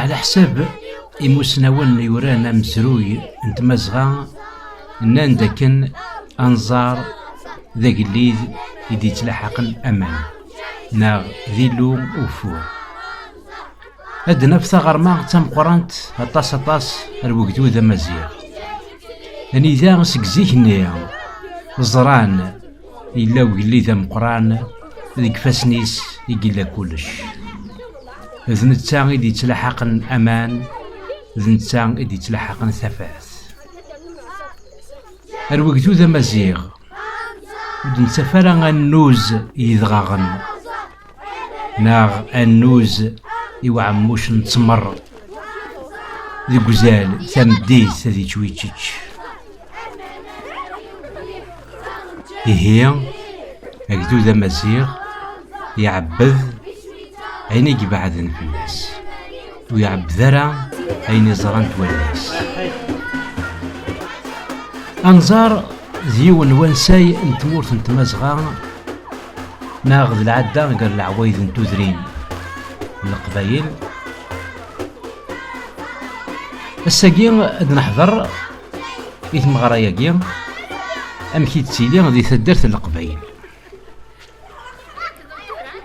Ɛla ḥsab imusnawen yuran amezruy n tmazɣa nnan-d akken anẓar d agellid i d-yettlaḥaqen aman neɣ d illu ugeffur. Ad d-naf taɣerma d tameqqrant aṭas aṭas ar wegdud amaziɣ. Anida seg zik-nni ẓran Yella ugellid ameqqran deg ifassen-is i yella kullec. D netta i d-yettlaḥaqen aman, d netta i d-yettlaḥaqen tafat. Ar wegdud amaziɣ, ur d-nettaf ara annuz yedɣaɣen. neɣ annuz i uɛemmuc n ttmer deg uzal tameddit ad yečč wičeč ihi agdud amaziɣ iɛebbed ayen i ibeɛden fell-as ur iɛebbed ara ayen iẓrant wallas anẓar d yiwen wansay n tmurt n tmazɣa neɣ d lɛadda gar leɛwayed n tudrin n leqbayel ass-agi ad neḥder i tmeɣra-agi amek i d-tili di taddart n leqbayel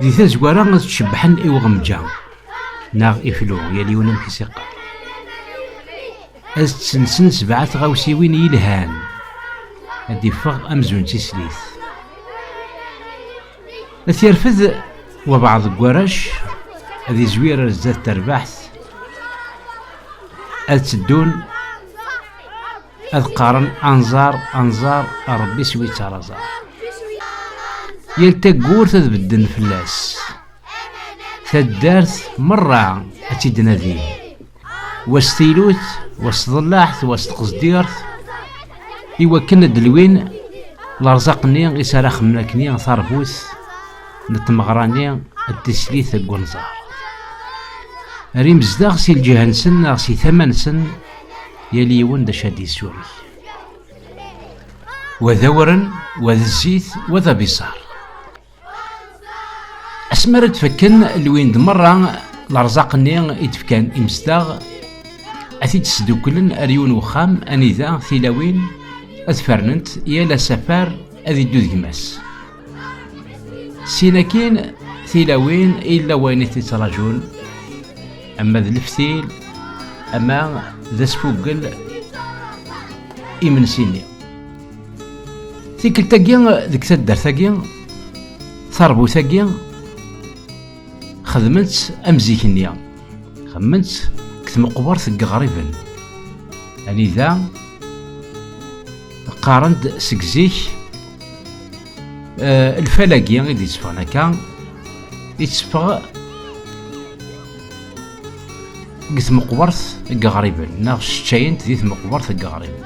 di tazwara ad tcebbḥen i uɣemja neɣ iflu yal yiwen amek i s-iqqar Ad d-tessensen sebɛa tɣawsiwin yelhan, ad d-iffeɣ amzun d tislit. Ad t-yerfed wabɛaḍ deg warrac, ad izwir ar zdat terbaḥt, ad tteddun ad qqaren anẓar anẓar rebbi s wi ttaraẓar yal taggurt ad bedden fell-as taddart merra ad tt-id-nadin was tilut was tḍellaɛt was tqezdirt i wakken ad d-lwin lerẓaq-nni i s ara xemmen akkenni tarbut n tmeɣra-nni d tislit deg unẓar ar imezdaɣ si lǧiha-nsen neɣ si tama-nsen yal yiwen d acu ad d-yessureg wa d awren wa d zzit wa d abiṣar asmi ara d-fakken lwin-d merra lerẓaq-nni i d-fkan imezdaɣ ad t-id-sdukklen ar yiwen wexxam anida tilawin ad fernent yal asafar ad iddu d gma-s sin akin tilawin illa wayen i t-ittrajun ama d leftil ama d asfuggel imensi-nni Tikkelt-agi deg taddart-agi, tarbut-agi, xedmen-tt am zik-nni. Xedmen-tt deg tmeqbert n yiɣriben. Anida qqaren-d seg zik eh, lfal-agi i d-itteffɣen akka, itteffeɣ deg tmeqbert n yiɣriben, neɣ cceččayen-t di tmeqbert n yiɣriben.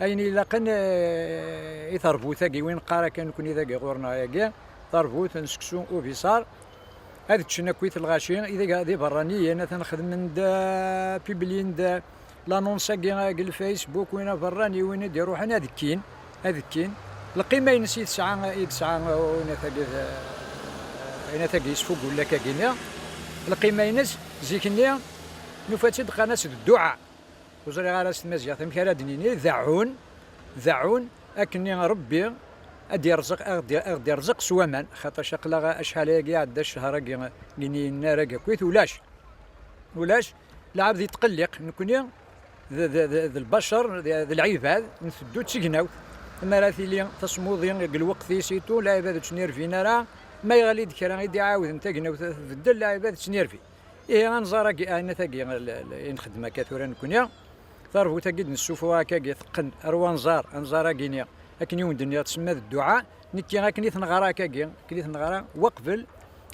Ayen ilaqen i terbut-agi, win qqar akka nekni dagi ɣur-neɣ yagi, terbut n seksu ubiṣar, ad ččen akkit lɣaci, ideg d iberraniyen, atan xedmen-d, piblin-d lanons-agi deg lfacebook, win aberrani, win i d-iruḥen ad kkin, ad kkin. Lqima-ines i tesɛa, i yesɛa unat-agi, unat-agi yesfugul akkagi-nni, lqima-ines, zik-nni nufa-tt-id qqaren-as dduɛa. Ur ẓriɣ ara s tmaziɣt amek ara d-nini deɛɛun, deɛɛun akkenni Rebbi ad d-irzeq, ad ɣ-d-irzeq s waman, xaṭac aql-aɣ acḥal-agi iɛedda ccehṛ-agi n yinnar-agi akkit ulac, ulac, lɛebd yettqelliq, nekkni d lbacer, d lɛibad, nteddu d tignawt, mi ara tili tasmuḍi deg lweqt-is itu, lɛibad ur ttnirvin ara, ma yeɣli-d kra i d-iɛawden tagnawt ad tbeddel, lɛibad ttnirvin. Ihi anẓar-agi, aɛinat-agi i nxeddem akka tura nekkni, tarbut-agi d-nessuffuɣ akka-agi teqqen ar wanẓar, anẓar-agi-ni akken i wen-d-nniɣ tsemma d dduɛa, nekki akken i t-neɣra akka-agi, akken i t-neɣra waqbel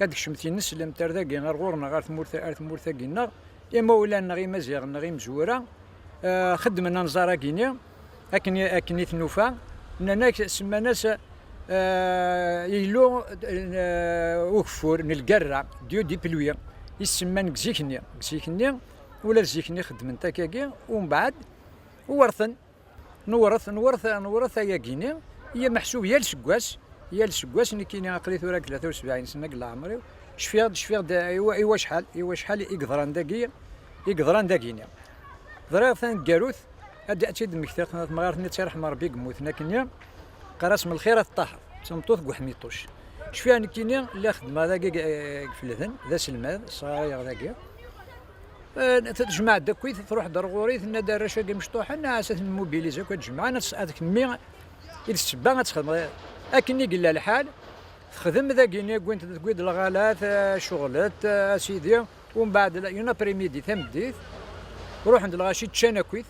ad d-kecmet yineslemt ar dagi ar ɣur-neɣ ar tmurt-agi-nneɣ, imawlan-nneɣ imaziɣen neɣ imezwura xeddmen anẓar-agi-ni. akken akken i tnufa nnan-ak semman-as yellu ugeffur n lgerra dieu di pelwi i semman deg zik-nni deg zik-nni ula d zik-nni xeddmen takagi umbeɛd uwerten newret newret newret ayagi-nni i amaḥsub yal seg wass yal seg wass nekkini aqli tura deg tlata u sebɛin sena deg leɛmer-iw cfiɣ-d cfiɣ-d i wacḥal i wacḥal i yeḍran dagi i yeḍran dagi-nni ẓriɣ taneggarut ad d-tt-id mmektiɣ temɣart-nni d tirḥem Rebbi yemmuten akken-nni qras m lxir ad ṭṭaḥeḍ d tameṭṭut n uḥmiṭuc cfiɣ nekkini la xeddmeɣ dagi gefleden d aselmad sɣayaɣ dagi tejmaɛ-d akkit truḥ-d ar ɣur-i tenna-d arrac-agi mecṭuḥen ɛas ad ten-mobilize akk ad jemɛen ad kemmi i d sebba ad txedmeḍ akken i yella lḥal txedem dagi-nni wwin-d lɣalat ceɣlet asidi Umbeɛd une après-midi tameddit, ruḥen-d lɣaci ččan akkit,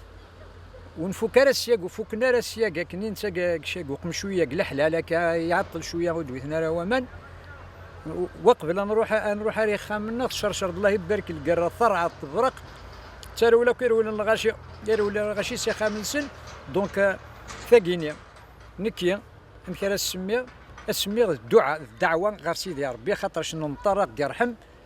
ur nfuk ara syag, ur fukken ara syag akken i nettag syag uqemcuy-a deg leḥlal akka iɛeṭṭel cwiya ur d-witen ara waman, waqbel ad nruḥ ad nruḥ ar ixxamen-nneɣ tcercer-d Allah ibarek lgerra terɛeḍ tebraq, d tarewla akk i rewlen lɣaci, i rewlen lɣaci s ixxamen-nsen, donc tagi-nni nekki amek ara as-semmiɣ, as-semmiɣ d dduɛa, d ddeɛwa ɣer Sidi Ṛebbi axaṭer cenneḍ Meṭṭar a ɣ-d-iṛḥem,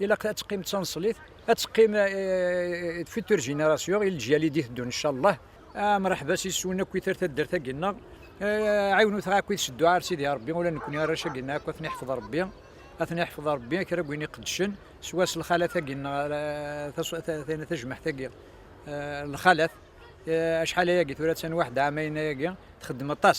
ilaq ad teqqim d taneṣlit ad teqqim d futur génération i leǧyal i d-iteddun incallah amraḥba s iswen akk itar taddart-agi nneɣ ɛiwnut akk i tseddu ar sidi rebbi ula nekni arrac-agi nneɣ akk ad ten-iḥfeḍ rebbi ad ten-iḥfeḍ rebbi kra n win iqeddcen s was lxalat-agi nneɣ tajmaḥt-agi lxalat acḥal ayagi tura ttan waḥda ɛamayna-agi txeddem aṭas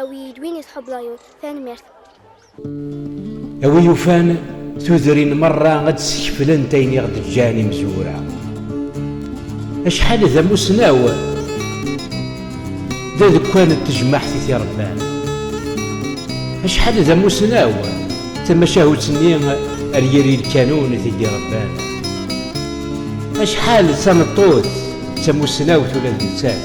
Awi-yi-d win i tḥubbeḍ a Yun. Tanemmirt. A wi yufan tudrin merra ad d-skeflent ayen i ɣ-d-ǧǧan imezwura. Acḥal d amussnaw d adekkan n tejmaɛt i t-irebban. Acḥal d amussnaw d tamacahut-nni ar yiri lkanun i t-id-irebban. Acḥal d tameṭṭut d tamussnawt ula d nettat.